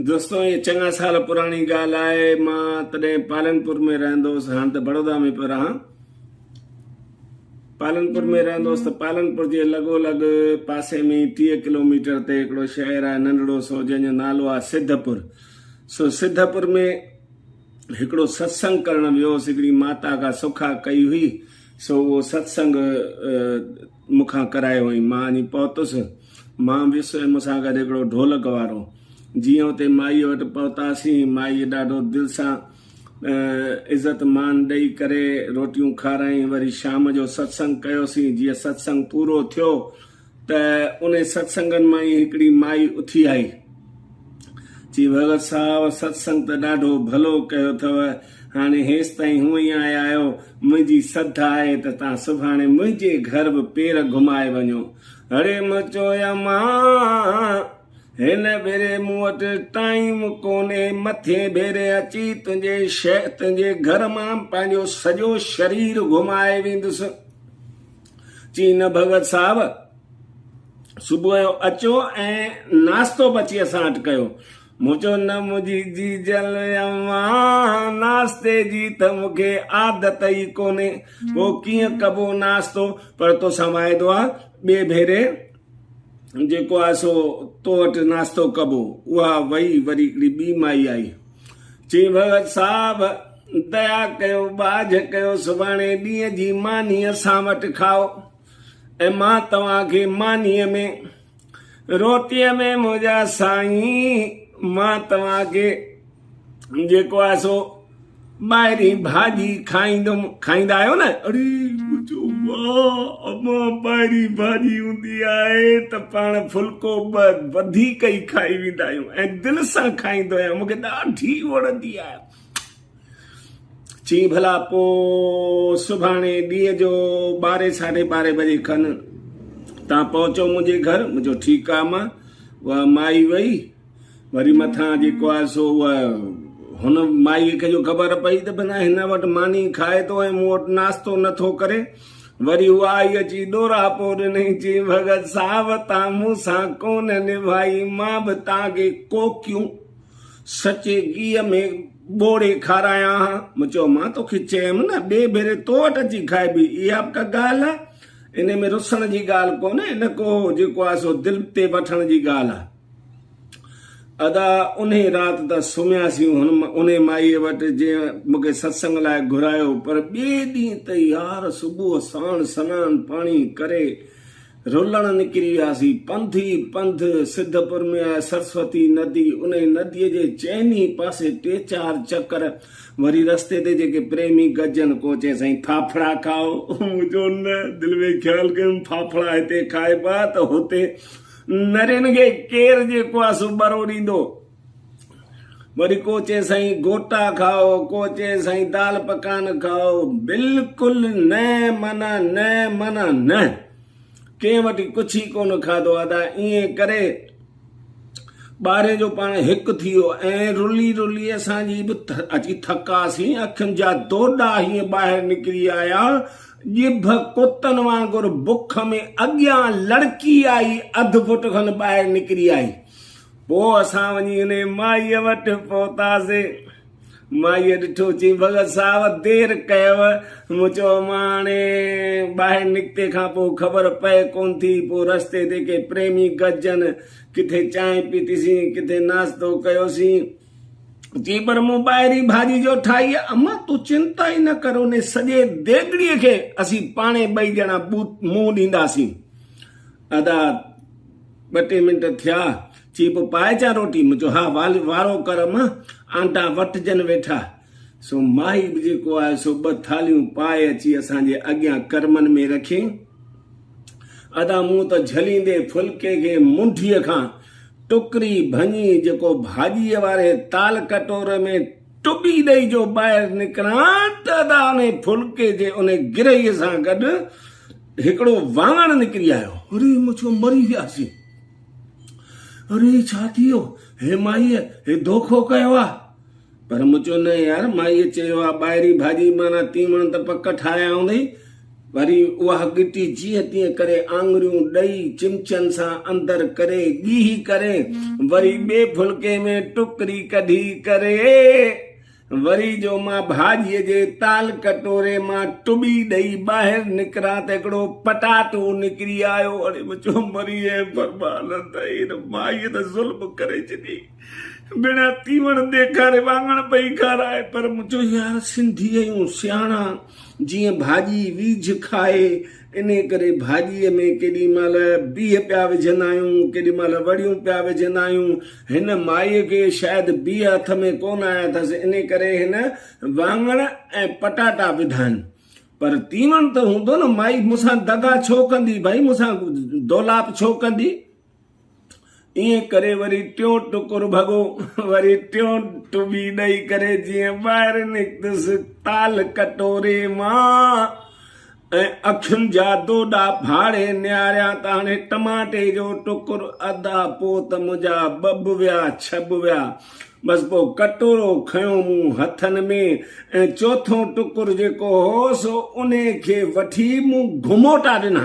دوستو هيء چڱا سال پراڻي ڳالهه آهي مان تڏهن پالنپور ۾ رهندو هوس هاڻ ته بڙودا ۾ پيو رهان پالنپور ۾ رهندو هوس ته پالنپور جي لڳو لڳ پاسي ۾ ئي ٽيهه ڪلوميٽر تي هڪڙو شهر آهي ننڍڙو سو جنهن جو نالو آهي سڌپور سو سڌپور ۾ هڪڙو ستسنگ ڪرڻ ويو هوس هڪڙي ماتا کان سکا ڪئي هئي سو اهو ستسنگ مون کان ڪرايو هئائين. مان اڃي پهتس. مان ويس ۽ مون سان گڏ هڪڙو ڍولڪ وارو. جيئن اتي مائيء وٽ پهتاسين، مائيء ڏاڍو دل سان عزت مان ڏئي ڪري روٽيون کارايائين. وري شام جو ستسنگ ڪيوسين. جيئن ستسنگ پورو ٿيو ته انهن ستسنگن مان ئي هڪڙي مائي اٿي آئي. چي ڀڳت صاحب ستسنگ ته ڏاڍو ڀلو ڪيو اٿئو، هاڻي هيستائين هونئن ئي آيا آهيو، منهنجي سڌ آهي ته تان سڀاڻي منهنجي گهر به پير گهمائي وڃو. اڙي م چيومانس، هن ڀيري مون وٽ ٽائيم ڪونهي، مٿين ڀيري اچي تنهنجي تنهنجي گهر مان پنهنجو سڄو شرير گهمائي ويندس. چي نه ڀڳت صاحب، صبح جو اچو ۽ ناشتو به اچي اسان وٽ ڪيو. مون چيو نه منهنجي جيجل اما، ناشتي جي ته مون کي عادت ئي ڪونهي، پوء ڪيئن ڪبو ناشتو، پر توسان واعدو آ ٻئي ڀيري جيڪو آهي سو تو وٽ ناشتو ڪبو. اها وئي وري هڪڙي ٻي مائي آئي. چيائين ڀڳت صاحب! ديا ڪيو، ٻاجهه ڪيو، سڀاڻي ڏينهن جي ماني اسان وٽ کائو ۽ مان توهان کي مانيء ۾ روٽيء ۾ منهنجا سائين مان توهان کي جيڪو آهي سو ٻاهري ڀاڄي کائيندم کائيندا آهيو نه اڙي مجو واه اما ٻاهري ڀاڄي هوندي آهي ته پاڻ ڦلڪو ٻه وڌيڪ ئي کائي ويندا آهيون ۽ دل سان کائيندو آهيان مون کي ڏاڍي وڻندي آهي چي ڀلا پو سڀاڻي ڏينهن جو ٻارهين ساڍي ٻارهين بجي کن تان پهچو منهنجي گهر مجو ٺيڪ آ ما وا مائي وئي وري مٿان جيڪو آهي سو اها هن مائيء کي جو خبر پئي ته بنا هن وٽ ماني کائي ٿو ۽ مون وٽ ناشتو نٿو ڪري وري اها آئي اچي ڏوراپو ڏنائين چي ڀڳت صاحب تان مون سان ڪون نڀائي مان به تان کي ڪوڪيون سچي گيء ۾ ٻوڙي کارايان ها مون چيو مان توکي چيم نه ٻئي ڀيري تو وٽ اچي کائبي اها به ڪا ڳالهه آهي ان ۾ رسڻ جي ڳالهه ڪونهي نه ڪو جيڪو آهي سو دل تي وٺڻ جي ڳالهه آهي ادا انهي رات ته سمهياسين انهي مائيء وٽ جنهن مون کي ستسنگ لاء گهرايو پر ٻئي ڏينهن ته يار صبح ساڻ سنان پاڻي ڪري رلڻ نڪري وياسين پنڌ ئي پنڌ سڌپور ۾ آهي سرسوتي ندي انهي ندي جي چئني پاسي ٽي چار چڪر وري رستي تي جيڪي پريمي گڏجن ڪو چئي سائين ڦاڦڙا کائو مون چيو نه دل ۾ خيال ڪيم ڦاڦڙا هتي کائبا ته هتي نرين کي ڪير جي ڪواسو ٻرو ڏيندو. وري ڪو چئي سائين گوٽا کائو، ڪو چئي سائين دال پڪان کائو. بلڪل نه معنيٰ نه معنيٰ نه. ڪنهن وٽ ڪڇ ئي ڪونه کاڌو ادا. ائين ڪري ٻاري جو پاڻ هڪ ٿي ويو ۽ رلي رلي اسان جي به اچي ٿڪاسين. اکين جا دوڏا هيئن ٻاهر نڪري آيا ڄڀ ڪتن وانگر بک ۾ اڳيان لڙڪي آئي، اڌ فٽ کن ٻاهر نڪري آئي. پوء اسان وڃي انهيء مائيء وٽ پهتاسين. مائيء ڏٺو، چيائين، ڀڳت صاحب دير ڪيؤ. مون چيو، امان هاڻي ٻاهر نڪتي کان پوء خبر پئي ڪونه ٿي. پوء رستي تي ڪي پريمي گڏجن، ڪٿي چانهه پيتيسين، ڪٿي ناشتو ڪيوسين. چيپر مون ٻاهرين ڀاڄي جو ٺاهي آ. امان تون چنتا ئي نه ڪر انهي سڄي ديڳڙي کي اسين پاڻهي ٻئي ڄڻا منهن ڏينداسين. ادا ٻه ٽي منٽ ٿيا چيپ پائي اچان روٽي؟ مون چيو ها وارو ڪر امان آنٽا وٽجن ويٺا. سو ماهي به جيڪو آهي سو ٻه ٿالهيون پائي اچي اسان جي اڳيان ڪرمن ۾ رکين. ادا مون ته جهليندي ڦلڪي کي منڍيء کان ٽڪري ڀڃي جيڪو ڀاڄيء واري تال ڪٽوري ۾ ٽٻي ڏئي جو ٻاهر نڪران ته ادا انهي ڦلڪي جي انهي گرهيء سان گڏ هڪڙو واڱڻ نڪري آيو. اري مڇو مري وياسين. اري ڇا ٿي ويو. هي مائيء هي دوکو ڪيو آ. پر مون چيو نه يار مائيء چيو آ ٻاهرين ڀاڄي معنيٰ تيوڻ ته پڪ ٺاهيا هوندئي. وري اها ڳٽي جيئن تيئن ڪري آڱريون ڏئي چمچن سان اندر ڪري ڳيهي ڪري وري ٻئي ڦلڪي ۾ ٽڪري ڪڍي ڪري وري جو مان ڀاڄيء جي تال ڪٽوري مان ٽٻي ڏئي ٻاهر نڪران ته هڪڙو پٽاٽو نڪري آيو. مون چيو مريئي برباد ته هن مائيء ته ظلم ڪري ڇڏيئي. بيڻا تيوڻ ڏيکاري واڱڻ پئي کارائي پر مون چيو يار سنڌي آهيون سياڻا جيئن ڀاڄي ويجهه کائي انهي ڪري ڀاڄي ۾ ڪيڏي مهل بيهه پيا وجهندا آهيون ڪيڏي مهل وڙيون پيا وجهندا آهيون هن مائي کي شايد بيهه هٿ ۾ ڪونه آيا اٿس انهي ڪري هن واڱڻ ۽ پٽاٽا وڌا آهن پر تيوڻ ته هوندو نه مائي مون سان دغا ڇو ڪندي ڀائي مون سان دولاپ ڇو ڪندي. ائين ڪري وري ٽيون ٽڪر ڀڳو، وري ٽيون ٽٻي ڏئي ڪري جيئن ٻاهر نڪتس تال ڪٽوري مان ۽ اکين جا دوڏا ڦاڙي نهاريان ته هاڻي ٽماٽي جو ٽڪر ادا پوء ته منهنجا ٻه به ويا ڇهه به ويا بس پوء ڪٽورو کنيو مون هٿن ۾ ۽ چوٿون ٽڪر جيڪو هو سو انهي کي وٺي مون گهموٽا ڏنا.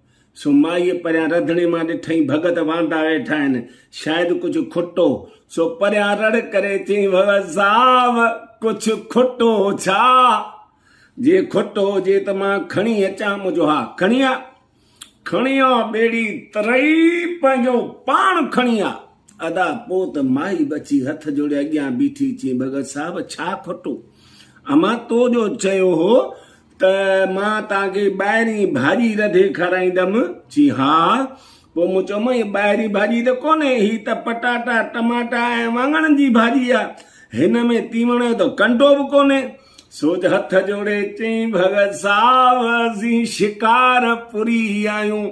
سو مائيء پريان رڌڻي مان ڏٺئين ڀڳت واندا ويٺا آهن، شايد ڪجهه کٽو، سو پريان رڙ ڪري چيائين، ڀڳت صاحب! ڪجهه کٽو ڇا؟ جي کٽو هجي ته مان کڻي اچان، منهنجو ها، کڻي آ، کڻي آ، ٻيڙي ترئي پنهنجو پاڻ کڻي آ. ادا پوء ته مائي به اچي هٿ جوڙي اڳيان بيٺي چيائين، ڀڳت صاحب! ڇا کٽو؟ امان تو جو چيو هو ته مان توهان کي ٻاهرين ڀاڄي رڌي کارائيندم؟ چي ها. پوء مون چيو مئي ٻاهرين ڀاڄي ته ڪونهي، هي ته پٽاٽا، ٽماٽا ۽ واڱڻن جي ڀاڄي آ. هن ۾ تيوڻ جو ته ڪنڊو به ڪونهي. سوج هٿ جوڙي چيائين ڀڳت صاحب اسين شڪارپوري آهيون.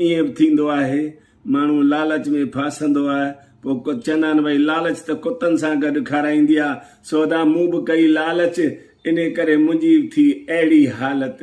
ائين به ٿيندو آهي، ماڻهو لالچ ۾ ڦاسندو آهي، پوء ڪت چوندا آهن، ڀئي لالچ ته ڪتن سان گڏ کارائيندي آهي، سو ادا مون به ڪئي لالچ، انهي ڪري منهنجي به ٿي اهڙي حالت.